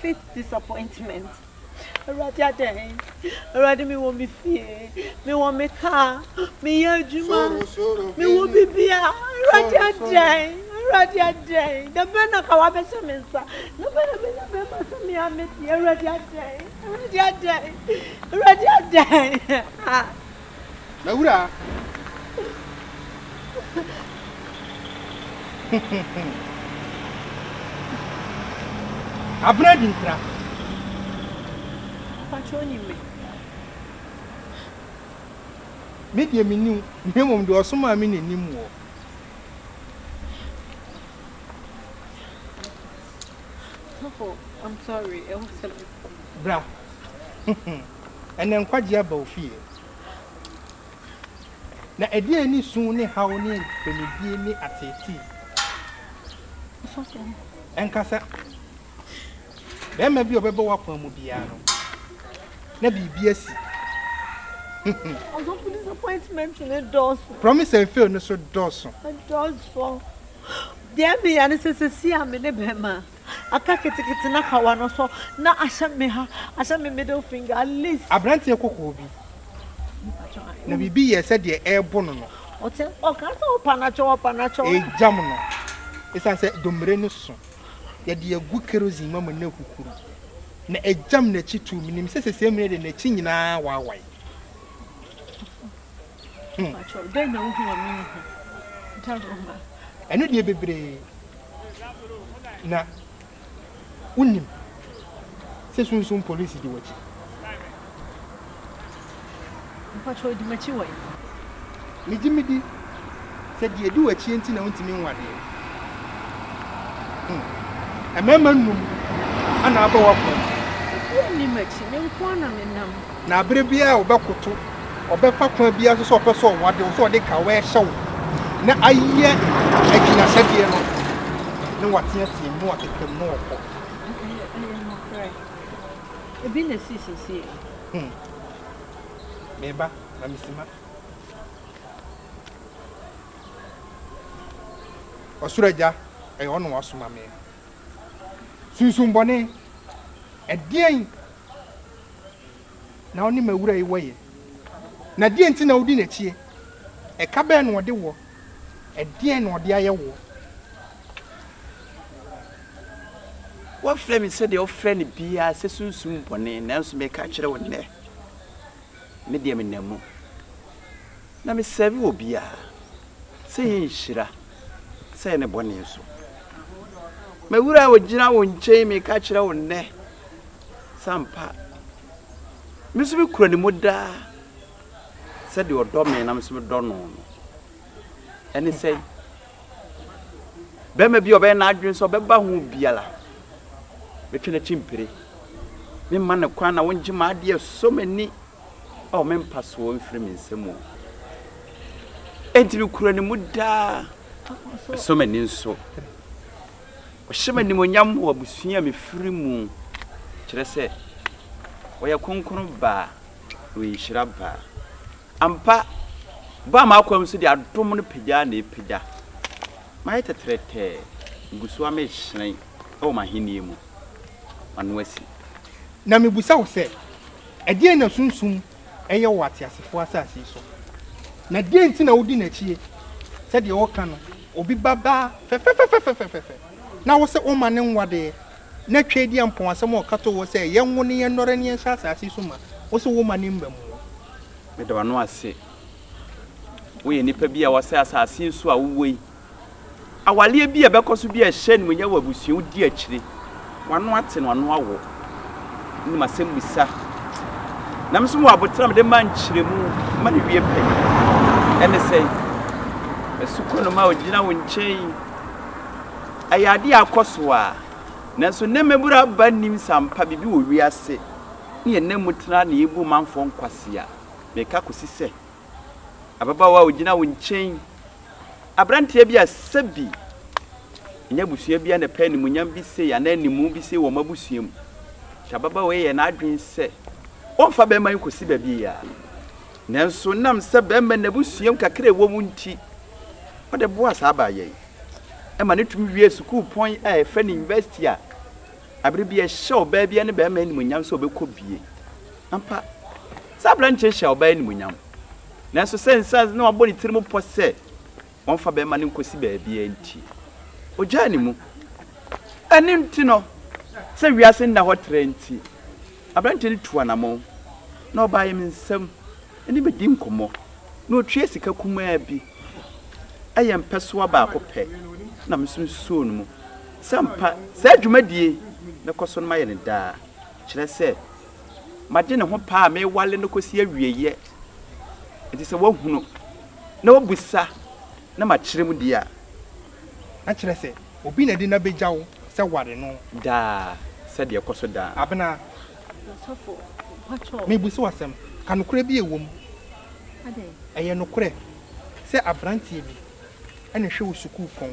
Faith disappointment. Awurade adɛn? Awurade me wɔ me fie, me wɔ me kaa, me yɛ adwuma, me wɔ bibia. Awurade adɛn? Awurade adɛn? Da bɛn na ka wabɛhyɛ me nsa? Da bɛn na bɛnya bɛma sɛ me a mɛdi? Awurade adɛn? Awurade adɛn? Awurade adɛn? M'awuraa. Abena di nkra. Mpakyɛ onim me? Me deɛ menni wo, na mmom deɛ ɔsomaa me na ɛnim woɔ. Oh, I'm sorry, ɛwɔ sɛ me. Bra. Ɛnnɛ nkwagye aba wo fie. Na ɛdeɛn ani su ne haw ne mpɛnidie ne ateetee? Ɛnkasa. Barima bi a ɔbɛba w'akwan mu biara no, na biribi asi. Ɔsɔfo disappointment ne dɔɔso. Promise and fail no so dɔɔso. Ɛdɔɔso. Deɛ ɛmeyɛ ne sɛ seesei a me ne bɛrima. Aka ketekete na kawa no so na ahyɛ me ha, ahyɛ me middle finger, at least. Aberanteɛ kɔkɔɔ bi, na biribi yɛɛ sɛ deɛ ɛrebo no no. Ɔte, ɔka sɛ, Ɔpanatwo, ɔpanatwo. Ɛregyam no. Ɛsiane sɛ domire no so, yɛde agu kerosene mu ama no ahuhuru, na ɛgyam n'akyi too. Menim sɛ seesei mmere de n'akyi nyinaa awaawae. Ɛno deɛ bebree na wonim sɛ sunsum polisi di w'akyi. Megye medi sɛ deɛ edi w'akyi nti na wontumi nwo adeɛ. Mmarima nnum na abɔ w'apɔn. Na aber biara a ɔbɛkoto, ɔbɛfa kwan biara so sɛ ɔpɛ sɛ ɔwade wo, sɛ ɔde ka w'ɛhyɛ wo, na ayɛ agyinahyɛdeɛ no, na wateateam, na wakekam, na ɔkɔ. Ɛyɛ, ɛyɛ nokorɛ. Ebi na ɛsii sesie. Hmm. Meba, na mesima. Ɔsoro Agya, ɛyɛ ɔno wasoma me. Sunsum bɔne, ɛdeɛn na ɔne m'awura yi wɔ yɛ? Na deɛn nti na wodi n'akyie? Ɛka bɛn na ɔde woɔ? Ɛdeɛn na ɔde ayɛ woɔ? Wɔafrɛ me sɛdeɛ wɔfrɛ no biara sɛ sunsum bɔne, nanso mereka akyerɛ wo nnɛ, me deɛ menam mu. Na mesɛre obiara sɛ ɛyɛ nhyira sɛ ɛyɛ ne bɔne nso. M'Awuraa a ɔgyina wo nkyɛn yi, meka kyerɛ wo nnɛ sɛ ampa me nso mekura ne mu daa sɛdeɛ ɔdɔ me na me nso medɔ no no. Ɛne sɛ bɛrima bi a ɔbɛyɛ n'adwene sɛ ɔbɛba ho biara, mɛtwe n'akyi mpire. Memma no kwan na wongye m'adeɛ so m'ani Ao, me mpasoɔ mfiri me nsam o. Enti mekura ne mu daa, mesɔ m'ani nso. Ɔhyɛ m'animuonyam wɔ abusua a mefiri mu, kyerɛ sɛ, ɔyɛ kronkron ba, na ɔyɛ nhyira ba. Ampa, baa m'akwam so de adom no pagyaa na ɛrepagya. Mayɛ tɛtrɛtɛ, megu so ara merehyerɛn wɔ m'ahennie mu, m'ano asi. Na mebisa wo sɛ, Ɛdeɛn na Sunsum yɛ wɔ ateasefoɔ asase yi so, na deɛn nti na wodi n'akyie? Sɛdeɛ wɔka no, obi ba baa fɛfɛfɛfɛfɛfɛfɛ, na wose woma no nwadeɛ, na Tweedeɛ mpɔwasɛm a ɔka too hɔ sɛ yɛnwo no yɛnnɔre no yɛnhyɛ asase yi so ma, wose woma no mmamu. Meda w'ano ase. Woyɛ nipa bi a woasɛ asase yi so a wowɔ yi. Awareɛ bi a ɛbɛkɔ so bi a ɛhyɛ animuonyam wɔ abusua wo di akyire. W'ano ate no ano awo. Ɛne ma sɛm bisa. Na me nso wɔ abotena mede ma nkyerɛmu ma ne wie pɛ. Ɛne sɛ, ɛso kɔ no ma ɔgyina wo nkyɛn. Ɛyɛ adeɛ a akɔ so a. Nanso nnɛ mmabura aba nnim sɛ ampa biribi wɔ wiase ne yɛn nna mu tena na yɛbu manfoɔ nkwasea. Meka kɔsi sɛ ababaawa a ɔgyina wo nkyɛn, aberanteɛ bi a sɛbi ɛnyɛ abusua bi a na ɛpɛ animuonyam bi sei anaa animu bi sei wɔ wɔn abusua mu. Hyɛ ababaawa yi yɛ n'adwene sɛ ɔmfa bɛrima yi kɔsi baabi yia. Nanso nam sɛ bɛrima no abusua mu kakra a ɛwɔ mu nti, ɔde boa saa abaayewa yi. Ɛma no tumi wie sukuupɔn a ɛfɛ ne university a abere bi ɛhyɛ ɔbaa bi ne bɛrima animuonyam sɛ ɔbɛkɔ bie. Ampa. Saa aberanteɛ yi hyɛɛ ɔbaa yi animuonyam, nanso sɛ nsa na wabɔ ne tirim pɔ sɛ wɔmfa bɛmma no nkɔsi baabiara nti, ɔgyaa ne mu. Ɛno nti no, sɛ wiase nna hɔ tra nti, aberanteɛ no tuu anammɔn, na ɔbaeɛ me nsam ne me dii nkɔmmɔ, na ɔtuaa sika kumaa bi, ɛyɛ mpɛsoa baako pɛ, na me nso mesoo no mu sɛ ampa saa dwumadie yi mɛkɔ so na mayɛ no daa, kyerɛ sɛ, Magye ne ho paa a mewale no kɔsi awieeɛ. Enti sɛ wahunu na wabisa na makyerɛ mu deɛ a, na kyerɛ sɛ obi na adi na bɛgya wo sɛ ware no. Daa, sɛdeɛ ɛkɔ so daa. Abena, mebusa wo asɛm, ka nokorɛ bi a ɛwɔ mu. Ɛyɛ nokorɛ sɛ aberanteɛ bi na ɛhwɛ wo sukuupɔn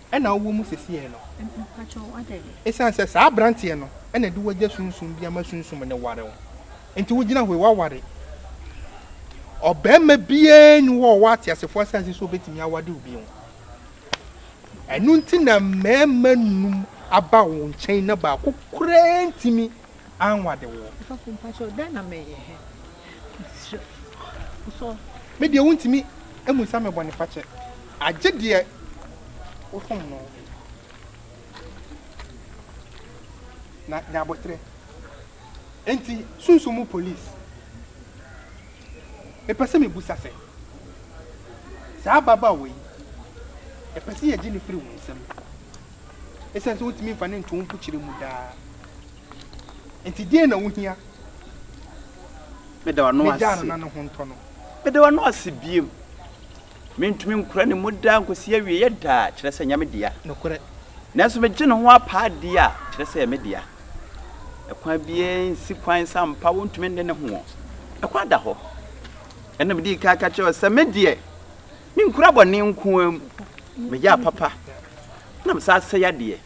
na wowɔ mu sesei no. Esiane sɛ saa aberanteɛ no na de w'agya sunsum bi ama sunsum no ware wo nti wogyina hɔ yi, woaware ɔbarima biara nni hɔ a ɔwɔ ateasefoɔ asase so a obetumi awade wo bio. Ɛno nti na mmarima num aba wo nkyɛn na baako koraa ntumi anwade wo. Ɔsɔfo mpakyɛw dɛn na mɛyɛ hɛ mesrɛ wo sɔɔ. Me deɛ wontumi mmusa me bɔnefakyɛ agye deɛ wosom no na nya aboterɛ enti sunsum mu police mepɛ sɛ mebusa sɛ saa ababaawa yi ɛpɛ sɛ yɛgye no firi wo nsam. esiane sɛ wontumi mfa no nto wo mpokyerɛ mu daa nti, deɛn na wohia? Meda w'ano ase. Megyaa no na ne ho ntɔ no. Meda w'ano ase bio. Mentumi nkora ne mu daa nkɔsi awieɛ daa, kyerɛ sɛ ɛnyɛ me dea. Nokorɛ. Nanso megye ne ho apaa die a, kyerɛ sɛ ɛyɛ me dea. Ɛkwan biara nsi kwan sɛ ampa wontumi nne ne ho. Ɛkwan da hɔ. Ɛnna medii kan ka kyerɛɛ wo sɛ, Me deɛ. Menkura bɔne nko ara mu, meyɛ apapa na mesan asɛe adeɛ.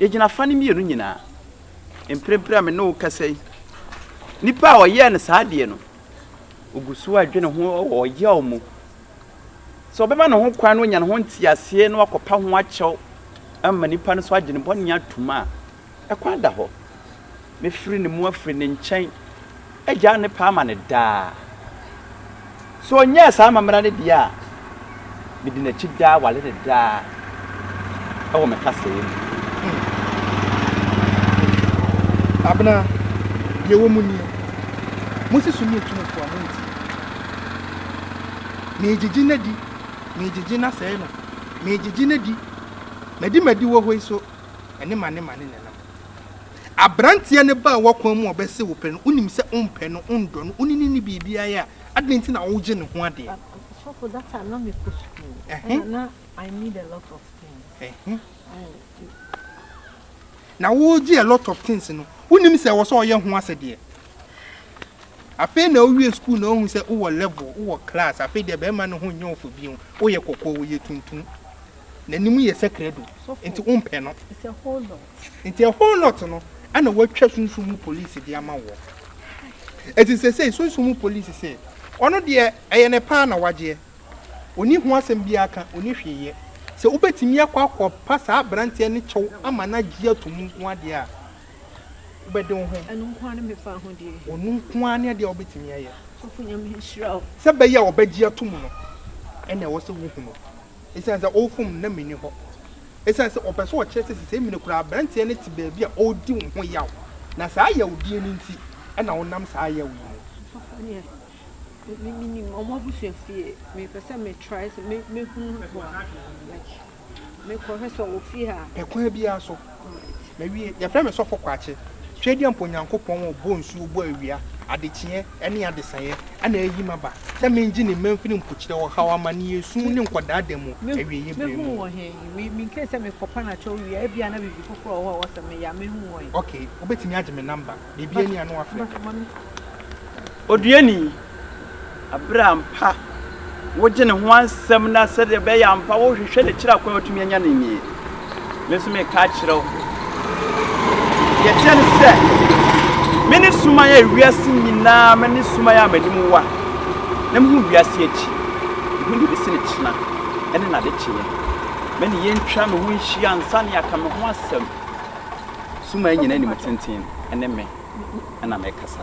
Yɛgyina afa no mmienu nyinaa. Mprempren a me ne wo rekasa yi, nipa a ɔyɛɛ no saa adeɛ no, ogu so adwene ho wɔ ɔyaw mu sɛ ɔbɛma ne ho kwan na wanya ne ho nteaseɛ na wakɔpa ho akyɛw ama nipa no so agye ne bɔne atom a Ɛkwan da hɔ. Mɛfiri ne mu afiri ne nkyɛn, agyaa ne pɛ ama no daa. Sɛ ɔnyɛɛ saa amammerɛ no deɛ a, medi n'akyi daa, wale no daa wɔ me kasaeɛ mu. Abena, deɛ ɛwɔ mu nie, Mose so nie tumfoɔ a monti. Meegyegye no adi, meegyegye no asɛe no, meegyegye no adi, madi m'adiwɔ hɔ yi so. ɛne manema ne nenam. Abranteɛ no baa w'akwan mu a ɔbɛse wo pɛ no, wonim sɛ wompɛ no, wondɔ no, wone no nni biribiara a, adɛn nti na wogye ne ho adeɛ? Sɔfo, that time na mekɔ sukuu, ɛna na I need a lot of things. Na wogye a lot of things no, wonim sɛ ɛwɔ sɛ ɔyɛ ho asɛdeɛ. Afei na wowie sukuu na wohu sɛ wowɔ level, wowɔ class, afei deɛ bɛrima no ho nyɛ wo fɛ bio, woyɛ kɔkɔɔ, woyɛ tuntum. n'anim yɛ sɛ krado nti wompɛ no. Nti a whole lot no ɛna wɔatwa sunsum mu police de ama woɔ. Ɛti sɛsɛi sunsum mu police sɛ ɔno deɛ ɛyɛ ne paa na wagyeɛ. Ɔni ho asɛm biaa ka, ɔni hwee yɛ. Sɛ wobɛtumi akɔ akɔ pa saa abranteɛ no kyɛw ama no agye ato mu nko ara deɛ a, wobɛde wo ho. Ɛno nko ara ne me fa ho deɛ. Ɔno nko ara ne adeɛ a wobɛtumi ayɛ. Sɔfo Nyame nhyira wo. Sɛ bɛyɛ a ɔbɛgye ato mu no ɛna ɛwɔ sɛ wohunu. Esiane sɛ ɔrefom no na minni hɔ. Esiane sɛ ɔpɛ sɛ ɔkyerɛ sɛ sesɛɛ mu no koraa aberanteɛ no te baabi a ɔredi wo ho yaw, na saa yawdie no nti na wonam saa yaw yi mu. Ɔsɔfo deɛ me menim wɔn abusua fie, mepɛ sɛ me try sɛ me mɛhunu hɔ a, like mekɔ hwɛ sɛ ɔwɔ fie ha a. Pɛ kwan biara so. Mawie, yɛfrɛ me Sɔfo Kwakye Tweaduampɔ Nyankopɔn a ɔbɔɔ nsuo, bɔɔ awia, adekyeɛ ne adesaeɛ na ayi me aba sɛ mengye ne mma mfiri mpokyerɛ, ɔhaw, amaneɛ, esum ne nkwadaa da mu awieɛ berɛ mu. Ok, wobɛtumi agye me number, baabi a ɛne a na wafrɛ. Oduani, Bere a ampa wogye ne ho asɛm na sɛdeɛ ɛbɛyɛ a ampa wohwehwɛ no akyiri akwan a wotumi anya no nie. Me nso meka akyerɛ wo, deɛ ɛteɛ ne sɛ, mene suman a ewiase nyinaa, mene suman a m'anim wa, na mehu wiase akyi, mehu deɛ ɛbɛsi no kyena ne n'adekyeeɛ. Me ne yɛntwa me ho nhyia ansa na yɛaka me ho asɛm. Suman nyinaa animtenten ne me na mekasa.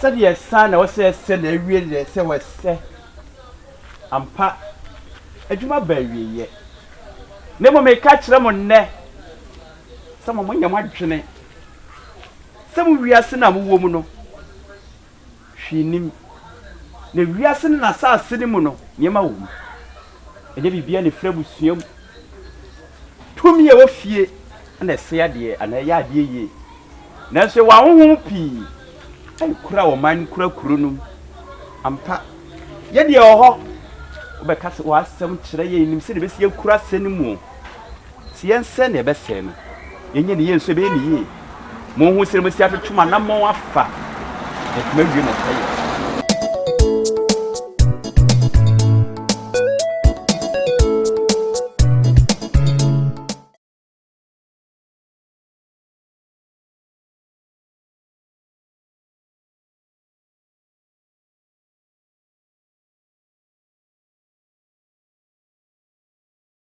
Sɛdeɛ saa na ɛwɔ sɛ ɛsɛ na awie deɛ ɛsɛ sɛ wɔsɛ ampa. Adwuma ba awieɛ. Na mmom meka akyerɛ mo nnɛ sɛ mo monyɛ mo adwene sɛ mo wiase no a mowɔ mu no, hwee nnim, na wiase ne n'asase no mu no, nneɛma wom. Ɛnyɛ biribiara na ɛfiri abusua mu. Tumi a ɛwɔ fie na ɛsɛe adeɛ anaa ɛyɛ adeɛ yie. Nanso yɛwɔ ahonhom pii a ɛkura ɔman no, kura kuro no mu. Ampa, yɛ deɛ ɛwɔ hɔ. Wobɛka sɛ w'asɛm kyerɛ yɛn, yɛnim sɛdeɛ ɛbɛsi akura asɛm no mu. Sɛ yɛnsɛe nea ɛbɛsɛe no, yɛnyɛ ne yie nso, ɛbɛyɛ ne yie. Monhu sɛdeɛ mobɛsi atwetwe mo anammɔn afa, na atumi awie mo pɛyɛ.